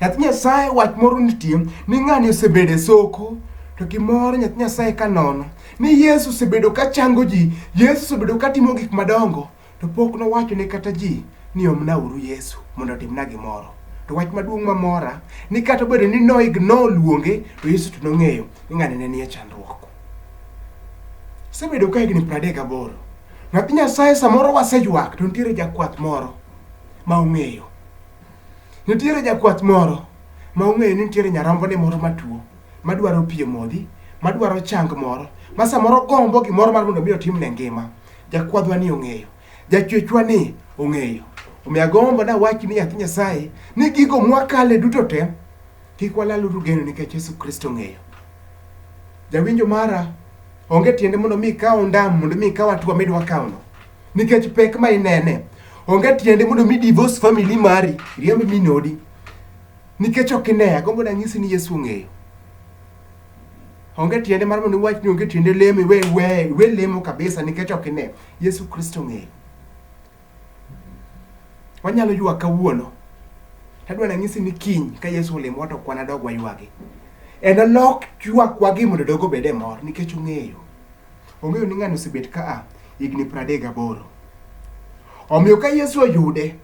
Nyathi Nyasaye wach moro nitie ni ng'ani osebedo e soko to gimoro nyathi Nyasaye ka nono ni Yesu osebedo ka chango ji, Yesu osebedo ka timo gik madongo to pok nowacho ne kata ji ni omnauru Yesu mondo otimna gimoro. To wach maduong' mamora ni kata obedo ni no ignore luonge to Yesu to nong'eyo ni ng'ani ne nie chandruok. Osebedo ka higni 38. Nyathi Nyasaye samoro waseywak to nitiere jakwath moro ma ong'eyo Nitiere jakwath moro ma ong'eyo ni nitiere nyarombone moro matuo madwaro pi e modhi, madwaro chang moro, ma samoro gombo gimoro mar mondo mi otimne ngima. Jakwadhwa ni ong'eyo, jachwechwa ni ong'eyo. Omiyo agombo dawach ni nyathi Nyasaye ni gigo mwakale duto te kik walaluru geno nikech Yesu Kristo ong'eyo. Jawinjo mara, onge tiende mondo mi ikaw ondam mondo mi ikaw atua midwa kawno. nikech pek ma inene. Onge tiende mondo mi divorce family mari, riemb min odi. Nikech ok ine, agombo nanyisi ni Yesu ong'eyo. Onge tiende mar mondo iwach ni onge tiende lemo, iwe, iwe, iwe lemo kabisa nikech ok ine. Yesu Kristo ong'eyo. Wanyalo ywak kawuono. Tadwa nanyisi ni kiny ka Yesu olemo to kwana dog waywagi. En olok ywakwa gi mondo dogo bede mor nikech ong'eyo. Ong'eyo ni ng'ani osebet ka a higni pradek gaboro. Omiyo ka Yesu oyude,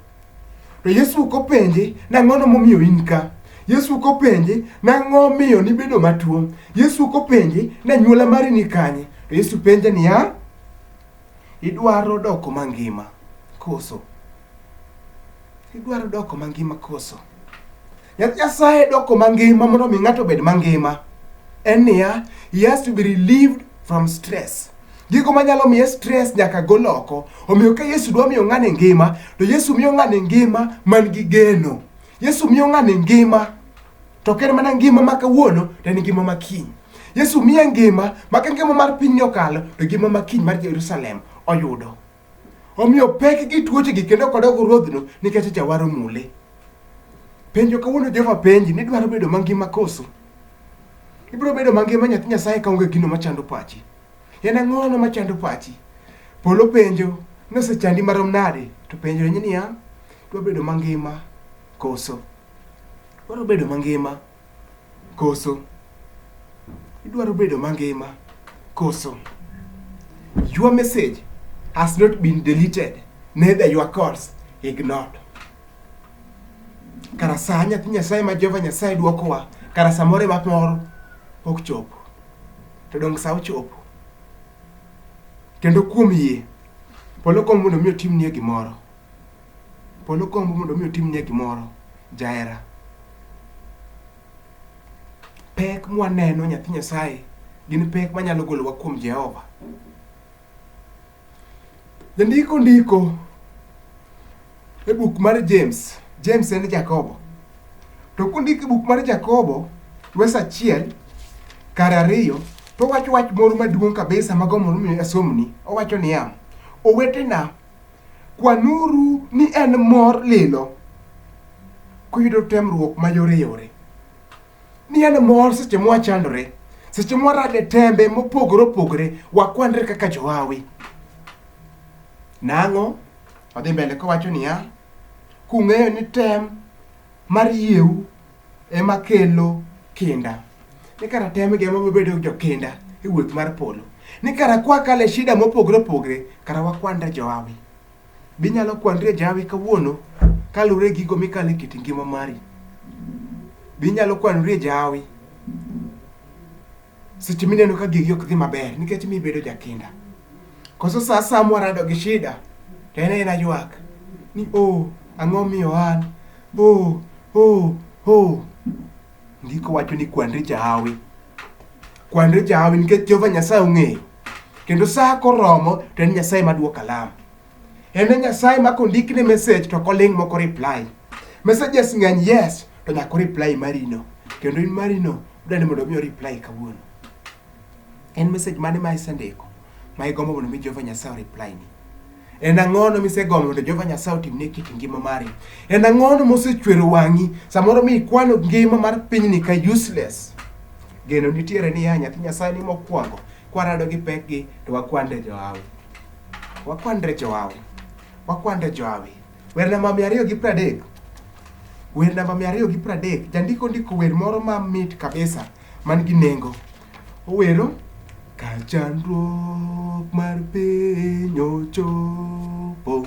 to Yesu ok openje nang'ono momiyo in ka. Yesu ok openje nang'o miyo nibedo matuo. Yesu ok openje na nyuola mari ni kanye. To Yesu penje niya, idwaro doko mangima koso? Idwaro doko mangima koso? Nyasaye doko mangima mondo mi ng'ato obed mangima en niya, he has to be relieved from stress. Gigo manyalo miye stress nyaka gol oko. Omiyo ka Yesu dwa miyo ng'ani ngima, to Yesu miyo ng'ani ngima man gi geno. Yesu miyo ng'ani ngima to ok en mana ngima ma kawuono to en ngima ma kiny. Yesu miye ngima ma ka ngima mar pinyni okalo to ngima ma kiny mar Jerusalem oyudo. Omiyo pek gi tuochegi kendo kodok ruodhno nikech jawar omule. Penjo kawuono Jehova penji ni dwaro bedo mangima koso? Ibiro bedo mangima nyathi Nyasaye kaonge gino machando pachi. En ang'ono machando pachi? Polo penjo ni osechandi marom nade to penjo ni niya, dwa bedo mangima koso? Dwaro bedo mangima. Koso idwaro bedo mangima? Koso your message has not been deleted neither your calls ignored. Kara saa nyathi Nyasaye ma Jehova Nyasaye dwokowa kara samoro ema moro ok chopo to donge sa ochopo kendo kuom yie polo kom mondo mi otimnie gimoro Polo gombo mondo mi otimnie gimoro jahera. Pek mwaneno nyathi Nyasaye gin pek manyalo golowa kuom Jehova. Jandiko ndiko e buk mar James, James en Jakobo. To kondiko e buk mar Jakobo, wes achiel kar ariyo, to owacho wach moro maduong' kabisa mago mondo mi asomni. Owacho niya, owetena Kwanuru ni en mor lilo kuyudo temruok mayoreyore, ni en mor seche mwachandore, seche mwarade tembe mopogore opogore, wakwanre kaka johawi. Nang'o? Odhi mbele kowacho niya, kung'eyo ni tem mar yieu. ema kelo kinda ni kara tem gi ema bedo jokinda e wuoth mar polo ni kara kwa kale shida mopogre opogre kara wakwanda joawi binyalo kwandre jawi kawuono kalure gigo mikale kit ngima mari binyalo kwanore jawi seche mineno ka gigi ok dhi maber nikech mi bedo jakinda koso sa asaya mwarado gi shida to en en aywak ni o ang'o miyo an o o o ndiko wacho ni kwanri jahawi kwanri jahawi nikech jehova nyasaye ong'eyo kendo sa koromo to en nyasaye madwoko alam En e Nyasaye ma kondik ne message to koling moko reply. Messages ng'eny yes to nyako reply marino. Kendo in marino dwani mondo mi reply kawuono. En message mane ma isendiko ma igombo mondo mi Jehova Nyasaye reply ni? En ang'ono misegombo mondo Jehova Nyasaye otimne kit ngima mari? En ang'ono mosechwero wang'i samoro mi ikwano ngima mar pinyni ka useless? Geno nitiere ni ya nyathi Nyasaye ni mokwongo kwarado gi pekgi to wakwande johawi. Wakwandre jowawe. Wakwandre jowawe. Wer namba mia ariyo gi pradek. Wer namba mia ariyo gi pradek. Jandiko ndiko wer moro ma mit kabisa man gi nengo. Owero ka chandruok mar piny ochopo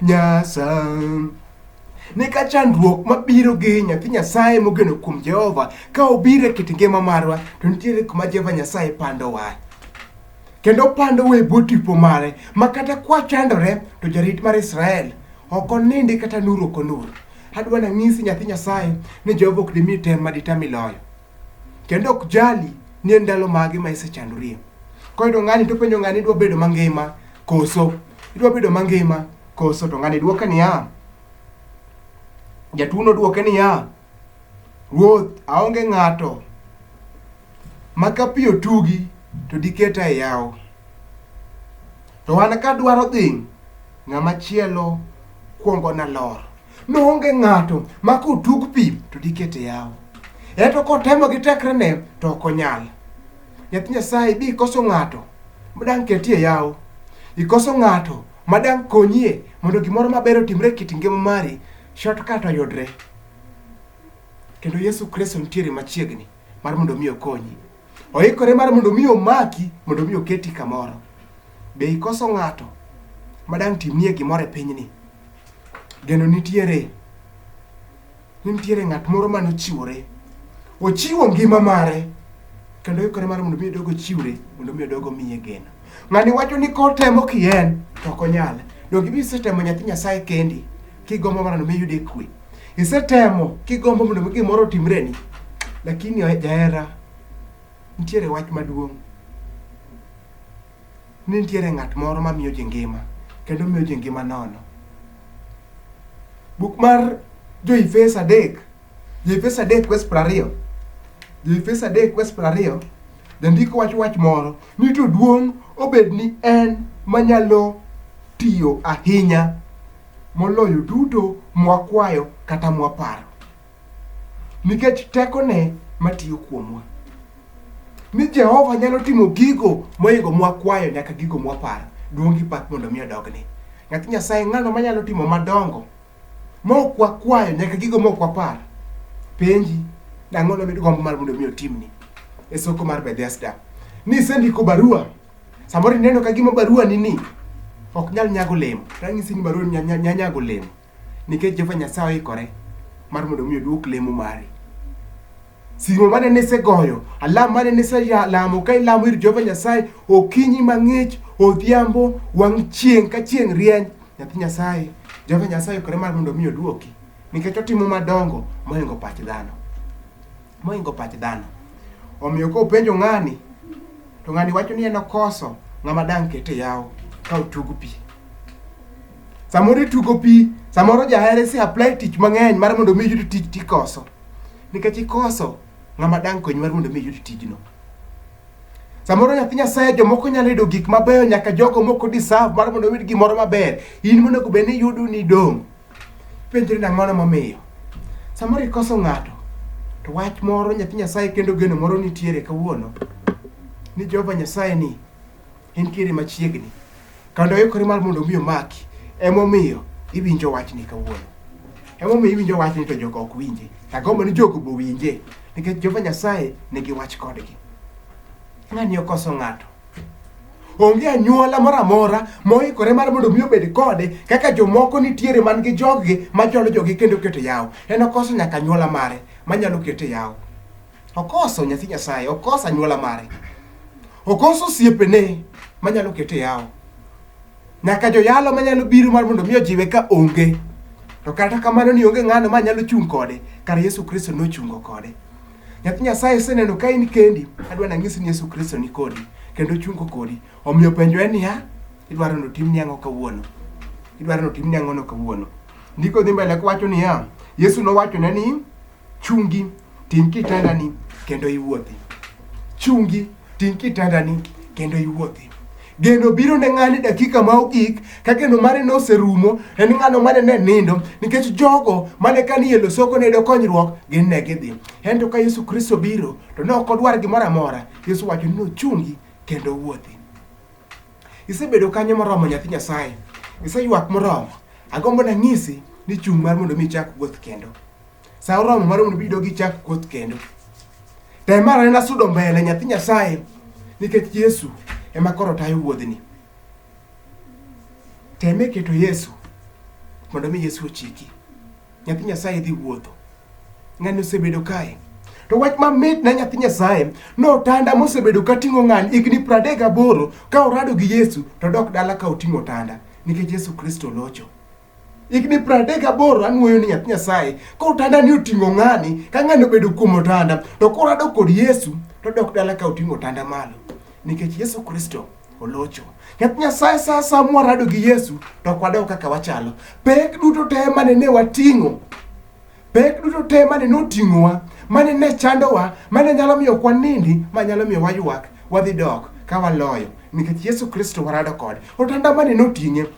Nyasaye. Ne ka chandruok mabiro gi nyathi Nyasaye mogeno kuom Jehova ka obiro e kit ngima marwa to nitiere kuma Jehova Nyasaye pandowa kendo pandowa e bwo tipo mare ma kata kwachandore to jarit mar Israel ok onindi kata nur ok onur. Adwa nang'isi nyathi Nyasaye ni Jehova ok dimi tem ma ditam iloyo. kendo ok jali ni en ndalo mage ma isechandorie. Koyudo ng'ani to penjo ng'ani idwa bedo mangima koso idwa bedo mangima koso to ng'ani dwoke niya jatuono dwoke niya ruoth aonge ng'ato ma ka pi otugi to diketa e yawo to an kadwaro dhi ng'ama chielo kwongo nalor Noonge ng'ato ma kotug pi to dikete yawo. Eto kotemo gi tekrene to ok onyal. Nyathi Nyasaye bi ikoso ng'ato ma dang' ketie yawo. Ikoso ng'ato ma dang' konyie mondo gimoro maber otimre e kit ngima mari, shortcut oyudre. Kendo Yesu Kristo nitiere machiegni mar mondo mi okonyi. Oikore mar mondo mi omaki, mondo mi oketi kamoro. Be ikoso ng'ato ma dang' timnie gimoro e pinyni? Geno nitiere, ni nitiere ng'at moro mane ochiwore. Ochiwo ngima mare kendo oikore mar mondo mi odog ochiwre mondo mi odog omiye geno. Ng'ani wacho ni kotemo ki en to ok onyal. Donge ibi isetemo nyathi Nyasaye kendi kigombo mondo mi iyude kwe. Isetemo kigombo mondo mi gimoro otimreni. Lakini jahera nitiere wach maduong'. ni nitiere ng'at moro ma miyo ji ngima kendo miyo ji ngima nono. Buk mar Jo-Efeso adek, Jo-Efeso adek wes piero ariyo, Jo-Efeso adek wes piero ariyo, jandiko wacho wach moro ni to duong' obed ni en manyalo tiyo ahinya moloyo duto mwakwayo kata mwaparo. nikech tekone matiyo kuomwa. Ni Jehova nyalo timo gigo moingo mwakwayo nyaka gigo mwaparo. Duong' gi pak mondo mi odogne. Nyathi Nyasaye ng'ano manyalo timo madongo mok wakwayo nyaka gigo mok wapar. Penji, ang'o nomid gombo mar mondo mi otimni? E soko mar Bethesda. Ni isendiko barua, samoro ineno ka gima barua ni ni ok nyal nyago olemo. Ranyisi ni barua ni nya- nya- nya- nyago olemo. Nikech Jehova Nyasaye oikore mar mondo mi oduok lemo mari. Simo mane nisegoyo, alam mane niselamo ka ilamo ir Jehova Nyasaye okinyi mang'ich, odhiambo, wang' chieng' ka chieng' rieny, nyathi Nyasaye, Jehova Nyasaye oikore mar mondo mi oduoki nikech otimo madongo moingo pach dhano. moingo pach dhano. Omiyo ka openjo ng'ani, to ng'ani wacho ni en okoso ng'ama dang' kete yawo ka otug pi. Samoro itugo pi, samoro jahere si apply tich mang'eny mar mondo mi iyud tich tikoso. Nikech ikoso ng'ama dang' konyi mar mondo mi iyud tijno. Samoro nyathi Nyasaye jomoko nyalo yudo gik mabeyo nyaka jogo moko deserve mar mondo oyud gimoro maber. In monego bed ni yudo ni idong'. Penjri ni ang'ono momiyo. Samoro ikoso ng'ato, to wach moro nyathi Nyasaye kendo geno moro nitiere kawuono ni Jehova Nyasaye ni entiere machiegni kendo oikore mar mondo omi omaki emomiyo iwinjo wachni kawuono emomiyo iwinjo wachni to jogo ok winje agombo ni jogo bo winje nikech Jehova Nyasaye nigi wach kodgi ng'ani okoso ng'ato Onge anyuola moro amora moikore mar mondo mi obed kode kaka jomoko nitiere man gi joggi machwalo jogi kendo keto yawo. En okoso nyaka anyuola mare manyalo kete yawo. Okoso nyathi Nyasaye, okoso anyuola mare. Okoso osiepene manyalo kete yawo. Nyaka joyalo manyalo biro mar mondo mi ojiwe ka onge. To kata kamano ni onge ng'ano manyalo chung' kode, kar Yesu Kristo nochungo kode. Nyathi Nyasaye iseneno ka in kendi, adwa nang'isi ni Yesu Kristo ni kodi kendo ochungo kodi. Omiyo penjo en niya, idwaro ni otimni ang'o kawuono? Idwaro ni otimni ang'ono kawuono? Ndiko dhi mbele kowacho niya, Yesu nowachone ni, chungi, ting' kitandani kendo iwuothi. Chungi Ting' kitandani kendo iwuothi. Geno biro ne ng'ani dakika ma ogik ka geno mare noserumo en ng'ano mane ne nindo nikech jogo mane ka ni e losoko ne yudo konyruok gin ne gidhi. Ento ka Yesu Kristo biro to ne ok odwar gimoro amora. Yesu wacho ni nochungi kendo wuothi. Isebedo kanyo moromo nyathi Nyasaye. Iseywak moromo. Agombo nanyisi ni chung' mar mondo mi ichak wuoth kendo. Sa oromo mar mondo bido gichak kuoth kendo. Tem mar anena sudo mbele nyathi Nyasaye nikech Yesu ema koro tayo wuodhni. Teme keto Yesu mondo mi Yesu ochiki. Nyathi Nyasaye dhi wuotho. Ng'ani osebedo kae. To wach mamit na nyathi Nyasaye notanda mosebedo ka ting'o ng'ani higni pradek gaboro ka orado gi Yesu to dok dala ka oting'o otanda nikech Yesu Kristo locho. higni piero adek gaboro anwoyo ni nyathi nyasaye koro otanda ni oting'o ng'ani ka ng'ani obedo kuom otanda to koro adok kod yesu to dok dala ka oting'o otanda malo nikech yesu kristo olocho nyathi nyasaye sa sa mwarado gi yesu to ok wadog kaka wachalo pek duto te mane ne wating'o pek duto te mane ne oting'owa mane ne chandowa mane nyalo miyo ok wanindi ma nyalo miyo waywak wadhi dok ka waloyo nikech yesu kristo warado kode otanda mane ne oting'e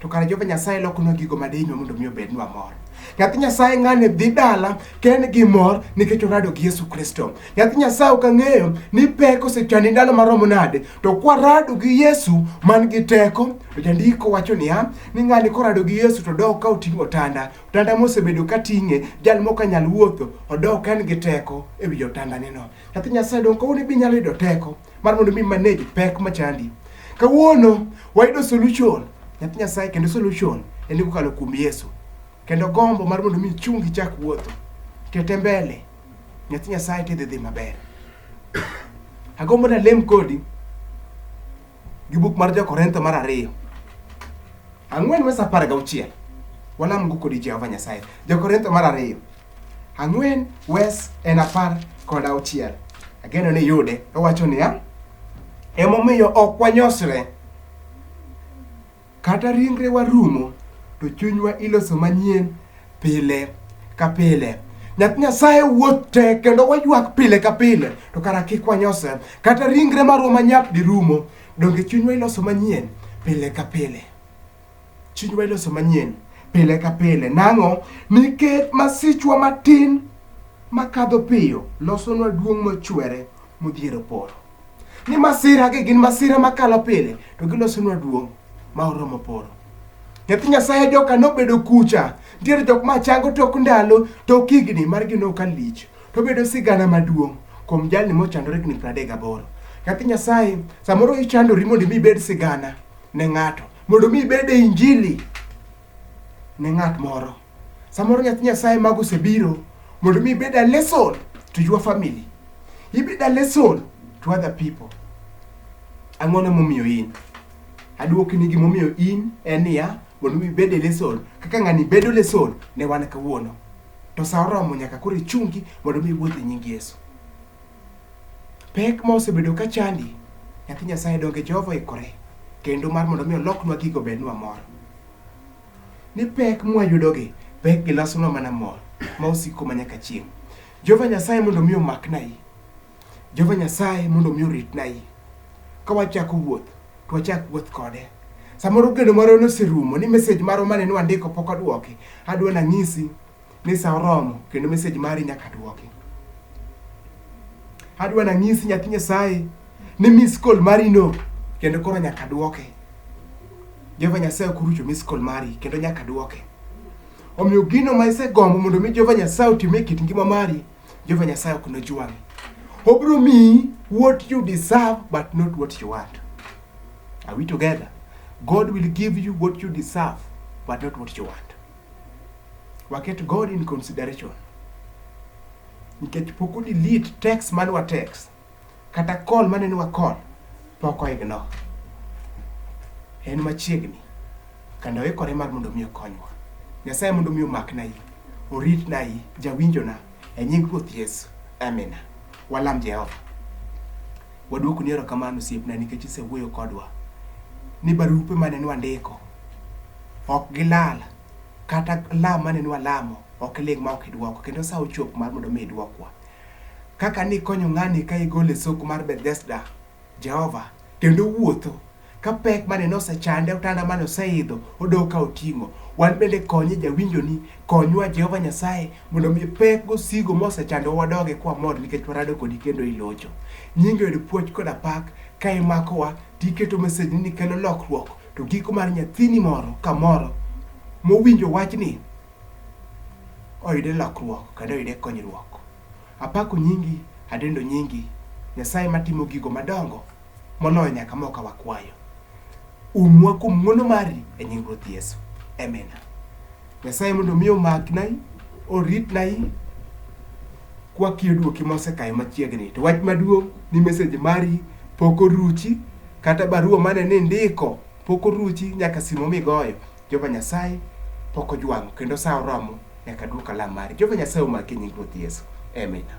to kare Jehova Nyasaye lokonwa gigo ma dihinyo mondo mi obednwa mor. Nyathi Nyasaye ng'ani dhi dala ka en gi mor nikech orado gi Yesu Kristo. Nyathi Nyasaye ok ang'eyo ni pek osechandi ndalo maromo nade, to kwarado gi Yesu man gi teko, to jandiko wacho niya, ni ng'ani korado gi Yesu to dok ka oting'o otanda. Otanda mosebedo ka ting'e, jal mok anyal wuotho, odok ka en gi teko e wi otandaneno. Nyathi Nyasaye donge kawuono be inyalo yudo teko? mar mondo mi manage pek machandi. Kawuono wayudo solution nyathi Nyasaye kendo solution en kokalo kuom Yesu. Kendo gombo mar mondo mi chungi chak wuotho tete mbele nyathi Nyasaye tidhi dhi maber. Agombo na lem kodi gi buk mar Jo-Korintho mar ariyo ang'wen wes apar gauchiel walamgo kodi Jehova Nyasaye. Jo-Korintho mar ariyo Ang'wen, Wes en apar kod auchiel. Ageno ni yude. Owacho niya, emomiyo ok wanyosre. Kata ringrewa rumo, to chunywa iloso manyien pile ka pile. Nyath Nyasaye wuoth te kendo waywak pile ka pile, to kara kik wanyosre. Kata ringre marwa manyap dirumo, donge chunywa iloso manyien pile ka pile. Chunywa iloso manyien pile ka pile. Nang'o? Nikech masichwa matin makadho piyo losonwa duong' mochwere modhiero polo. Ni masiragi gin masira makalo pile to gilosonwa duong' ma oromo polo. Nyathi Nyasaye joka nobedo kucha, nitiere jok ma chango tok ndalo, tok higni margi noka lich, to obedo sigana maduong' kuom jalni mochandore higni 38. Nyathi Nyasaye, samoro ichandori mondo imi ibed sigana, ne ng'ato mondo mi ibed e injili ne ng'at moro samoro nyathi nyasaye mago osebiro mondo mi ibed a lesson to your family ibed a lesson to other people ang'o ne momiyo in aduoki ni gimomiyo in en niya mondo mi ibed e lesson kaka ng'ani bedo lesson ne wan kawuono to sa oromo nyaka koro ichungi mondo mi iwuoth e nying yesu Pek ma osebedo ka chandi, nyathi Nyasaye donge Jehova oikore kendo mar mondo mi oloknwa gigo bednwa mor. Ni pek mwayudogi, pek gi lasonwa mana mor ma osiko ma nyaka chieng'. Jehova Nyasaye mondo mi omaknai. Jehova Nyasaye mondo mi oritnai. Ka wachako wuoth, to wachak wuoth kode. Samoro geno marwa noserumo ni message marwa mane nwandiko pok odwoki. Adwa nang'isi ni sa oromo kendo message mari nyaka duoki. Adwa nanyisi nyathi Nyasaye ni miss call mari no kendo koro nyaka duoke. Jehova Nyasaye ok orucho miss call mari kendo nyaka duoke. Omiyo gino ma isegombo mondo mi Jehova Nyasaye otim e kit ngima mari, Jehova Nyasaye ok nojwang'i. Obiro miyi what you deserve but not what you want. Are we together? God will give you what you deserve but not what you want. Waket God in consideration. Nikech pok delete text mane wa text kata call mane ni wa call pok oignore. En machiegni kendo oikore mar mondo mi okonywa. Nyasaye mondo mi omakna yi, oritna yi, jawinjona e nying Ruoth Yesu. Amina. Walam Jehova. Waduoko ni erokamano osiepna nikech isewuoyo kodwa ni barupe mane nwandiko ok gilal kata lam mane nwalamo ok iling ma ok idwoko kendo sa ochop mar mondo mi idwokwa kaka nikonyo ng'ani ka igole soko mar Bethesda Jehova kendo wuotho Ka pek mane nosechande, otanda mane oseidho, odok ka oting'o. Wan bende konye jawinjoni, konywa Jehova Nyasaye mondo mi pek gosigo mosechandowa wadoge kwamor nikech warado kodi kendo ilocho. Nyingi oyud puoch koda pak ka imakowa to iketo message ni kelo lokruok to giko mar nyathini moro kamoro mowinjo wachni oyude lokruok kendo oyude konyruok. Apako nyingi, adendo nyingi, Nyasaye matimo gigo madongo moloyo nyaka moka wakwayo. Umwa kuom ng'wono mari e nying Ruoth Yesu. Amina. Nyasaye mondo mi omaknai, oritnai kwakiyo duoki mosekayo machiegni. To wach maduong' ni message mari pok oruchi kata barua mane nindiko pok oruchi nyaka simo migoyo. Jehova Nyasaye pok ojwang'o kendo sa oromo nyaka dwok alam mari. Jehova Nyasaye omaki e nying Ruoth Yesu. Amina.